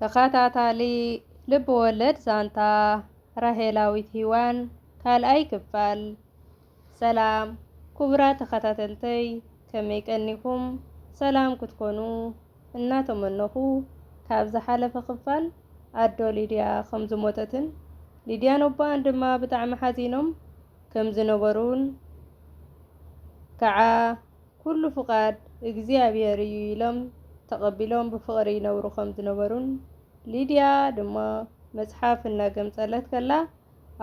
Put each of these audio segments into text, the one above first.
ተኸታታሊ ልብወለድ ዛንታ ራሄላዊት ሂዋን ካልኣይ ክፋል። ሰላም ኩቡራት ተኸታተልተይ ከመይ ቀኒኹም ሰላም ክትኮኑ እናተመነኹ ካብ ዝሓለፈ ክፋል ኣዶ ሊድያ ከም ዝሞተትን ሊድያን ኣቦኣን ድማ ብጣዕሚ ሓዚኖም ከም ዝነበሩን ከዓ ኩሉ ፍቓድ እግዚኣብሄር እዩ ኢሎም ተቐቢሎም ብፍቕሪ ይነብሩ ከም ዝነበሩን ሊድያ ድማ መጽሓፍ እናገምጸለት ከላ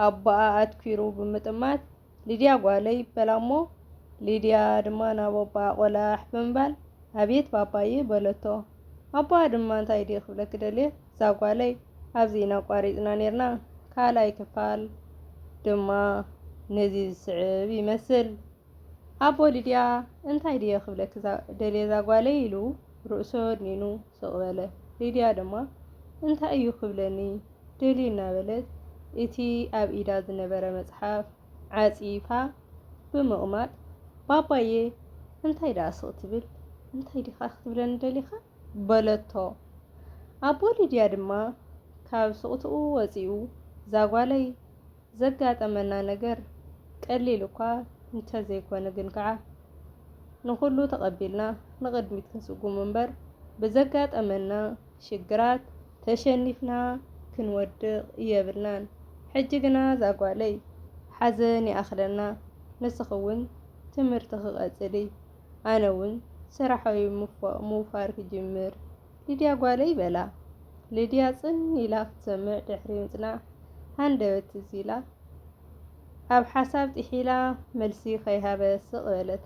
ኣቦኣ ኣትኲሩ ብምጥማት ሊድያ ጓለይ በላ እሞ ሊድያ ድማ ናብ ኣቦኣ ቆላሕ ብምባል ኣቤት ባባየ በለቶ ኣቦኣ ድማ እንታይ ድየ ክብለኪ ደልየ ዛጓለይ ኣብዚ ኢና ኣቋሪጽና ኔርና ካልኣይ ክፋል ድማ ነዚ ዝስዕብ ይመስል። ኣቦ ሊድያ እንታይ ድየ ክብለኪ ደልየ ዛጓለይ ኢሉ ርእሱ ኣድኒኑ ስቕ በለ። ሊድያ ድማ እንታይ እዩ ክብለኒ ደልዩ እናበለት እቲ ኣብ ኢዳ ዝነበረ መጽሓፍ ዓጺፋ ብምቕማጥ ባባየ እንታይ ድኣ ስቕ ትብል እንታይ ዲኻ ክትብለኒ ደሊኻ በለቶ። ኣቦ ሊድያ ድማ ካብ ስቕትኡ ወጺኡ ዛጓለይ ዘጋጠመና ነገር ቀሊል እኳ እንተዘይኮነ ግን ከኣ ንኹሉ ተቐቢልና ንቕድሚት ክንስጉም እምበር ብዘጋጠመና ሽግራት ተሸኒፍና ክንወድቕ የብልናን። ሕጂ ግና ዛጓለይ ሓዘን ይኣኽለና ንስኺ'ውን ትምህርትኺ ቀጽሊ ኣነ'ውን ስራሐይ ምውፋር ክጅምር። ሊድያ ጓለይ በላ። ሊድያ ጽን ኢላ ክትሰምዕ ድሕሪ ምጽናሕ ሃንደበት ትዝ ኢላ ኣብ ሓሳብ ጢሒላ መልሲ ከይሃበ ስቕ በለት።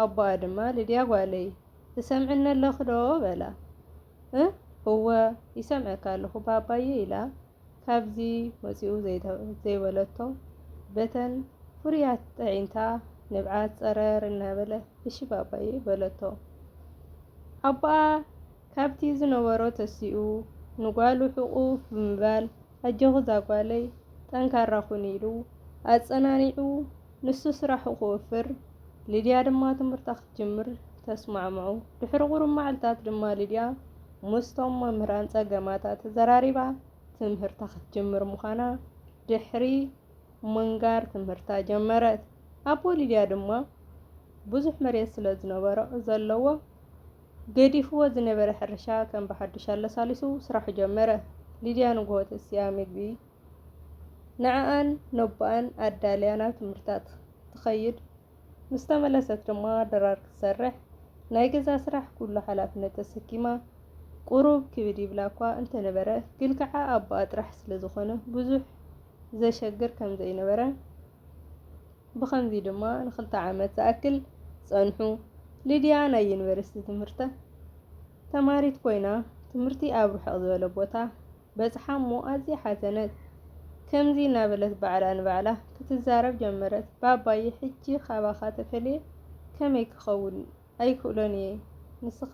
ኣቦኣ ድማ ሊድያ ጓለይ ትሰምዕኒ ኣለኺ ዶ በላ። እ እወ ይሰምዐካ ኣለኹ ባባየ ኢላ። ካብዚ ወጺኡ ዘይበለቶ በተን ፍሩያት ጠዒንታ ንብዓት ጸረር እናበለ እሺ ባባየ በለቶ። ኣቦኣ ካብቲ ዝነበሮ ተሲኡ ንጓሉ ሕቑፍ ብምባል ኣጆኺ ዛጓለይ ጠንካራ ኩኒ ኢሉ ኣጸናኒዑ ንሱ ስራሑ ክወፍር ሊድያ ድማ ትምህርታ ክትጅምር ተስማዕምዑ። ድሕሪ ቁሩብ መዓልታት ድማ ሊድያ ምስቶም መምህራን ጸገማታ ተዘራሪባ ትምህርታ ክትጅምር ምዃና ድሕሪ ምንጋር ትምህርታ ጀመረት። ኣቦ ሊድያ ድማ ብዙሕ መሬት ስለ ዝነበሮ ዘለዎ ገዲፍዎ ዝነበረ ሕርሻ ከም ብሓዱሽ ኣለሳሊሱ ስራሑ ጀመረ። ሊድያ ንግሆ ተሲኣ ምግቢ ንዕኣን ነቦኣን ኣዳልያ ናብ ትምህርታ ትኸይድ። ምስ ተመለሰት ድማ ድራር ክትሰርሕ ናይ ገዛ ስራሕ ኩሉ ሓላፍነት ተሰኪማ ቁሩብ ክብድ ይብላ እኳ እንተነበረ ግን ከዓ ኣቦኣ ጥራሕ ስለዝኾነ ብዙሕ ዘሸግር ከምዘይነበረ ብኸምዚ ድማ ንክልተ ዓመት ዝኣክል ጸንሑ። ሊድያ ናይ ዩኒቨርሲቲ ትምህርታ ተማሪት ኮይና ትምህርቲ ኣብ ርሕቕ ዝበለ ቦታ በጽሓ እሞ ኣዝያ ሓዘነት። ከምዚ እናበለት ባዕላ ንባዕላ ክትዛረብ ጀመረት፣ ባባየ ሕጂ ካባኻ ተፈልየ ከመይ ክኸውን? ኣይክእሎን እየ። ንስኻ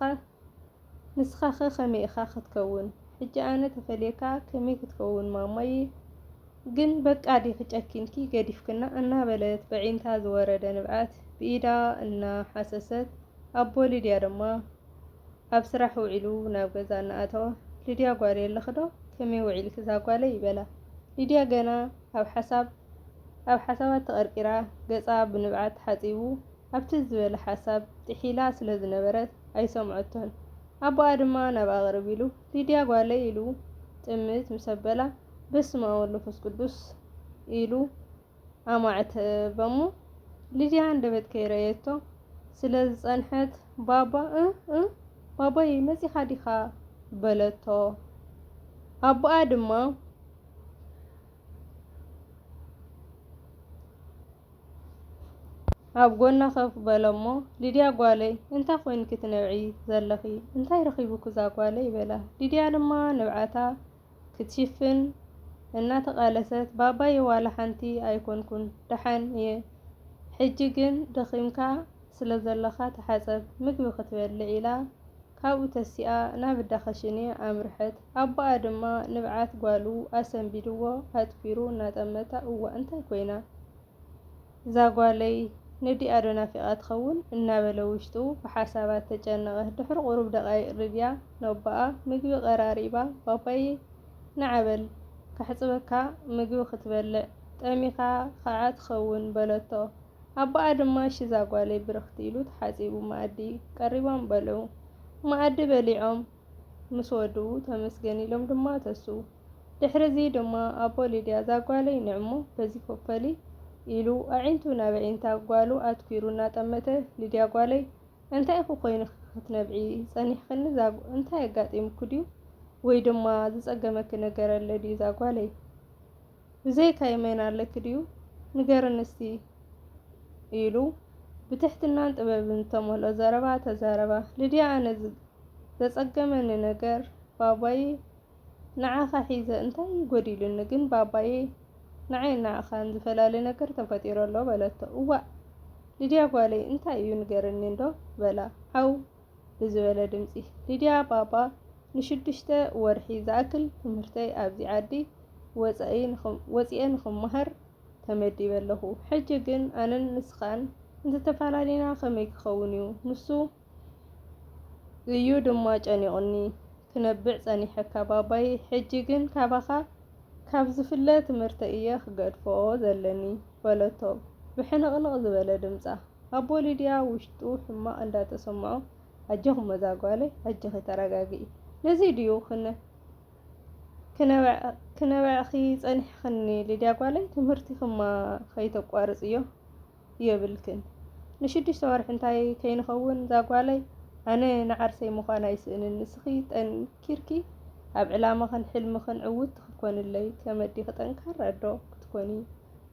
ንስኻኸ ከመይ ኢኻ ክትከውን? ሕጂ ኣነ ተፈልየካ ከመይ ክትከውን ማማየ ግን በቃ ዲኺ ጨኪንኪ ገዲፍክና? እናበለት በዒንታ ዝወረደ ንብዓት ብኢዳ እናሓሰሰት፣ ኣቦ ሊድያ ድማ ኣብ ስራሕ ውዒሉ ናብ ገዛ እናኣተወ ሊድያ ጓለይ ኣለኺ ዶ ከመይ ውዒልኪ ዛጓለይ በላ ሊድያ ገና ኣብ ሓሳብ ኣብ ሓሳባት ተቐርቂራ ገጻ ብንብዓት ተሓጺቡ ኣብ ትዝ ዝበለ ሓሳብ ጥሒላ ስለ ዝነበረት ኣይሰምዖቶን ኣቦኣ ድማ ናብኣ ቅርብ ኢሉ ሊድያ ጓለይ ኢሉ ጥምት ምሰበላ በስመኣብ ወልፍስ ቅዱስ ኢሉ ኣማዕተ እባ እሞ ሊድያ ሃንደበት ከይረኣየቶ ስለ ዝጸንሐት ባባ እ እ ባባየይ መጺኻ ዲኻ በለቶ ኣቦኣ ድማ ኣብ ጎና ከፍ በለሞ ሊድያ ጓለይ እንታይ ኮይንኪ ትነብዒ ዘለኺ እንታይ ረኺቡኪ እዛ ጓለይ በላ ሊድያ ድማ ንብዓታ ክትሽፍን እናተቓለሰት ባባየ ዋላ ሓንቲ ኣይኮንኩን ደሓን እየ ሕጂ ግን ደኺምካ ስለዘለኻ ተሓጸብ ምግቢ ክትበልዕ ኢላ ካብኡ ተሲኣ ናብ እዳ ከሽኔ ኣምርሐት ኣቦኣ ድማ ንብዓት ጓሉ ኣሰንቢድዎ ኣትኲሩ እናጠመታ እዋእ እንታይ ኮይና እዛ ጓለይ ነዲኣ ዶ ናፊቓ ትኸውን? እናበለ ውሽጡ ብሓሳባት ተጨነቐ። ድሕሪ ቁሩብ ደቓይቕ ሊድያ ነቦኣ ምግቢ ቀራሪባ፣ ባባየ ንዓ በል ከሕጽበካ ምግቢ ክትበልዕ ጠሚኻ ኸኣ ትኸውን በለቶ። ኣቦኣ ድማ እሺ እዛ ጓለይ ብርኽቲ ኢሉ ተሓጺቡ መኣዲ ቀሪቦም በልዑ። መኣዲ በሊዖም ምስ ወዱ ተመስገን ኢሎም ድማ ተስኡ። ድሕሪዚ ድማ ኣቦ ሊድያ እዛ ጓለይ ንዕ'ሞ በዚ ፎፈሊ ኢሉ ኣዒንቱ ናብ ኣዒንታ ጓሉ ኣትኲሩ እናጠመተ ሊድያ ጓለይ እንታይ ኢኹ ኮይንኺ ክትነብዒ ጸኒሕክኒ ዛጉ እንታይ ኣጋጢምኪ ድዩ ወይ ድማ ዝጸገመኪ ነገር ኣሎ ድዩ ዛጓለይ ብዘይካ የመን ኣለኪ ድዩ ንገርኒ እስቲ ኢሉ ብትሕትናን ጥበብን ዝተመልኦ ዘረባ ተዛረባ። ልድያ ኣነ ዘጸገመኒ ነገር ባባየ ንዓኻ ሒዘ እንታይ ጎዲሉኒ ግን ባባየ ንዓይን ንዓኻን ዝፈላሊ ነገር ተፈጢሩ ኣሎ በለቶ። እዋእ ልድያ ጓለይ እንታይ እዩ ንገርኒ እንዶ በላ። ዓው ብዝበለ ድምጺ። ሊድያ ባባ፣ ንሽዱሽተ ወርሒ ዝኣክል ትምህርተይ ኣብዚ ዓዲ ወጺኤ ንኽመሃር ተመዲበ ኣለኹ። ሕጂ ግን ኣነን ንስኻን እንተተፈላሊና ከመይ ክኸውን'ዩ? ንሱ እዩ ድማ ጨኒቑኒ። ክነብዕ ጸኒሐካ ባባይ፣ ሕጂ ግን ካባኻ ካብ ዝፍለ ትምህርተይ እየ ክገድፎ ዘለኒ በለቶ ብሕንቕንቕ ዝበለ ድምጻ። ኣቦ ሊድያ ውሽጡ ሕማቕ እንዳተሰምዖ ኣጆኹም እዛ ጓለይ ኣጆኺ ተረጋግኢ ነዚ ድዩ ክነበዕኪ ጸኒሕክኒ ሊድያ ጓለይ ትምህርቲክማ ከይተቋርጽዮ። የብልክን ንሽዱሽተ ወርሒ እንታይ ከይንኸውን ዛጓለይ ኣነ ንዓርሰይ ምዃን ኣይስእንን ንስኺ ጠንኪርኪ ኣብ ዕላማኽን ሕልምኽን ዕውቲ ክትኮንለይ ከመዲኺ ጠንካራ ኣዶ ክትኮኒ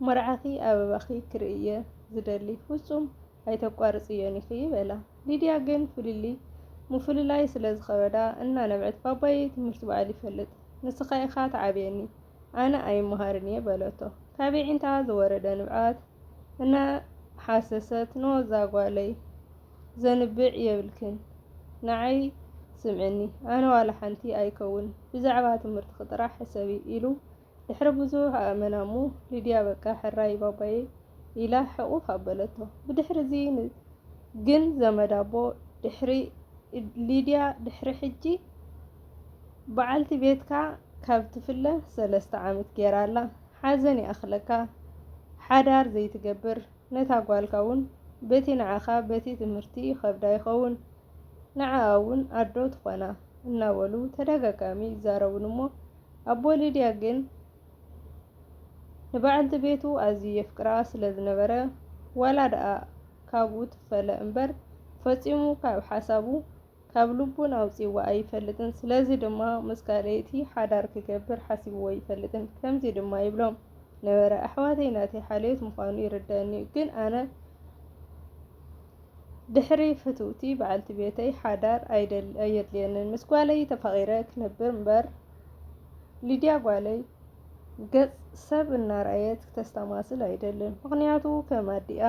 መርዓኺ ኣበባኺ ክርእይየ ዝደሊ ፍጹም ኣይተቋርጽዮን ኢኺ በላ ሊድያ ግን ፍልልይ ምፍልላይ ስለዝኸበዳ እናነብዐት ባባየይ ትምህርቲ ባዕሉ ይፈልጥ ንስኻ ኢኻ ትዓብየኒ ኣነ ኣይመሃርን እየ በለቶ ካብ የዒንታ ዝወረደ ንብዓት እና ሓሰሰት ንወዛ ጓለይ ዘንብዕ የብልክን ንዓይ ስምዕኒ ኣነ ዋላ ሓንቲ ኣይከውን ብዛዕባ ትምህርትኪ ጥራሕ ሕሰቢ ኢሉ ድሕሪ ብዙሕ ኣእመና እሞ ሊድያ በቃ ሕራይ ባባየይ ኢላ ሕቁፍ ኣበለቶ ብድሕሪ እዚ ግን ዘመድ ኣቦ ድሕሪ ሊድያ ድሕሪ ሕጂ በዓልቲ ቤትካ ካብ ትፍለ ሰለስተ ዓመት ጌራ ኣላ ሓዘን ይኣኽለካ ሓዳር ዘይትገብር ነታ ጓልካ ውን በቲ ንዓኻ በቲ ትምህርቲ ይኸብዳ ይኸውን ንዓኣ ውን ኣዶ ትኾና እናበሉ ተደጋጋሚ ይዛረቡኒ እሞ ኣቦ ሊድያ ግን ንበዓልቲ ቤቱ ኣዝዩ የፍቅራ ስለ ዝነበረ ዋላ ድኣ ካብኡ ትፈለ እምበር ፈጺሙ ካብ ሓሳቡ ካብ ልቡን ኣውጺእዎ ኣይፈልጥን። ስለዚ ድማ ምስ ካልኣይቲ ሓዳር ክገብር ሓሲብዎ ኣይፈልጥን። ከምዚ ድማ ይብሎም ነበረ፣ ኣሕዋተይ ናተይ ሓልዮት ምዃኑ ይርደኣኒ'ዩ፣ ግን ኣነ ድሕሪ ፍትውቲ በዓልቲ ቤተይ ሓዳር ኣየድልየንን። ምስ ጓለይ ተፋቒረ ክነብር እምበር። ሊድያ ጓለይ ገጽ ሰብ እናርኣየት ክተስተማስል ኣይደልን፣ ምኽንያቱ ከም ኣዲኣ።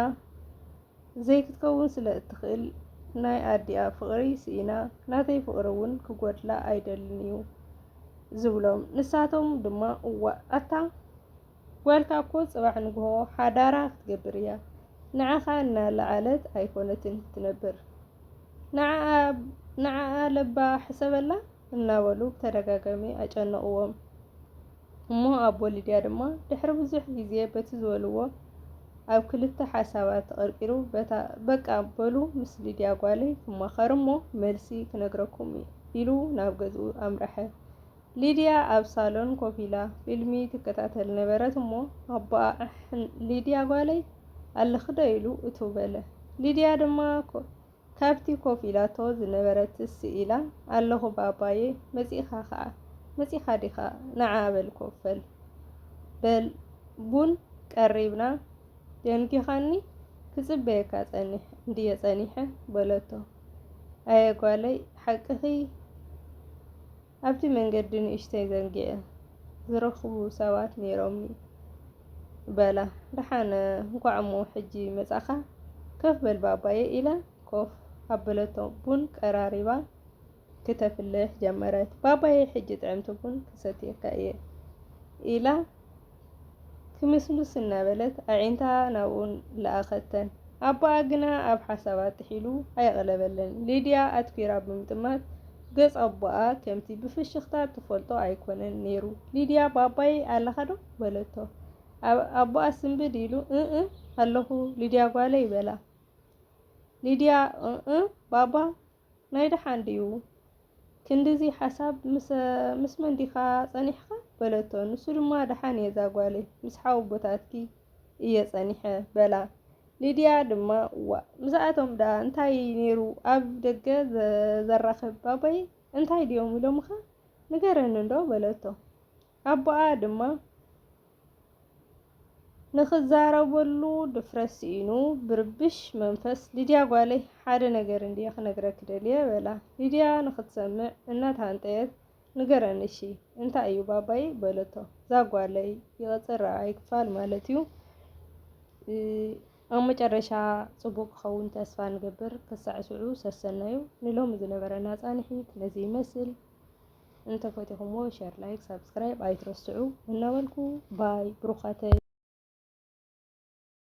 ዘይክትከውን ስለ እትኽእል ናይ ኣዲኣ ፍቕሪ ስኢና ናተይ ፍቕሪ እውን ክጎድላ ኣይደልን እዩ ዝብሎም። ንሳቶም ድማ እዋእ ኣታ ጓልካ እኮ ፅባሕ ንግሆ ሓዳራ ክትገብር እያ ንዓኻ እናለዓለት ኣይኮነትን ክትነብር ንዓኣ ለባ ሕሰበላ እናበሉ ብተደጋጋሚ ኣጨነቕዎም። እሞ ኣቦ ሊድያ ድማ ድሕሪ ብዙሕ ግዜ በቲ ዝበልዎ ኣብ ክልተ ሓሳባት ተቐርቂሩ በታ በቃ በሉ ምስ ሊድያ ጓለይ ክማኸር እሞ መልሲ ክነግረኩም እዩ ኢሉ ናብ ገዝኡ ኣምረሐ። ሊድያ ኣብ ሳሎን ኮፍ ኢላ ፊልሚ ትከታተል ነበረት እሞ ኣቦኣ ሊድያ ጓለይ ኣለኽዶ ኢሉ እትው በለ። ሊድያ ድማ ካብቲ ኮፍ ኢላቶ ዝነበረትስ ስኢላ፣ ኣለኹ ባባየ፣ መጺእኻ ኸኣ? መጺእኻ ዲኻ? ንዓ በል ኮፈል በል ቡን ቀሪብና ደንጒኻኒ ክጽበየካ ጸኒሕ እንድየ ጸኒሐ በለቶ። ኣየ ጓለይ ሓቅኺ? ኣብቲ መንገዲ ንእሽተይ ዘንጊዐ ዝረኽቡ ሰባት ነይሮምኒ በላ። ደሓን እንኳዕ'ሞ ሕጂ መጻኻ፣ ከፍ በል ባባየ ኢላ ኮፍ ኣበለቶ። ቡን ቀራሪባ ክተፍልሕ ጀመረት። ባባየ ሕጂ ጥዕምቲ ቡን ክሰትየካ እየ ኢላ። ክምስምስ እናበለት ኣዒንታ ናብኡ ለኣኸተን። ኣቦኣ ግና ኣብ ሓሳባት ጥሒሉ ኣየቕለበለን። ሊድያ ኣትኲራ ብምጥማት ገጽ ኣቦኣ ከምቲ ብፍሽኽታ እትፈልጦ ኣይኰነን ነይሩ። ሊድያ ባባየይ ኣለኻዶ? በለቶ። ኣቦኣ ስንብድ ኢሉ እእ ኣለኹ ሊድያ ጓለይ በላ። ሊድያ እእ ባባ ናይ ደሓን ድዩ ክንድዚ ሓሳብ ምስ መን ዲኻ ጸኒሕኻ በለቶ ንሱ ድማ ደሓን እየ እዛ ጓለይ ምስ ሓወቦታትኪ እየ ጸኒሐ በላ ሊድያ ድማ ዋእ ምስኣቶም ደኣ እንታይ ኔሩ ኣብ ደገ ዘራኽብ ባባይ እንታይ ድዮም ኢሎምኻ ንገረኒ እንዶ በለቶ ኣቦኣ ድማ ንኽዛረበሉ ድፍረት ስኢኑ ብርብሽ መንፈስ ሊድያ ጓለይ ሓደ ነገር እንድየ ክነግረኪ ደልየ በላ። ሊድያ ንኽትሰምዕ እናተሃንጠየት ንገረኒ እሺ እንታይ እዩ ባባይ በለቶ። ዛጓለይ ይቕፅል ረብዓይ ክፋል ማለት እዩ። ኣብ መጨረሻ ፅቡቅ ክኸውን ተስፋ ንገብር። ክሳዕ ሽዑ ሰሰናዩ። ንሎሚ ዝነበረና ፃንሒት ነዚ ይመስል። እንተፈቲኹምዎ ሸር ላይክ ሳብስክራይብ ኣይትረስዑ እናበልኩ ባይ ብሩኻተይ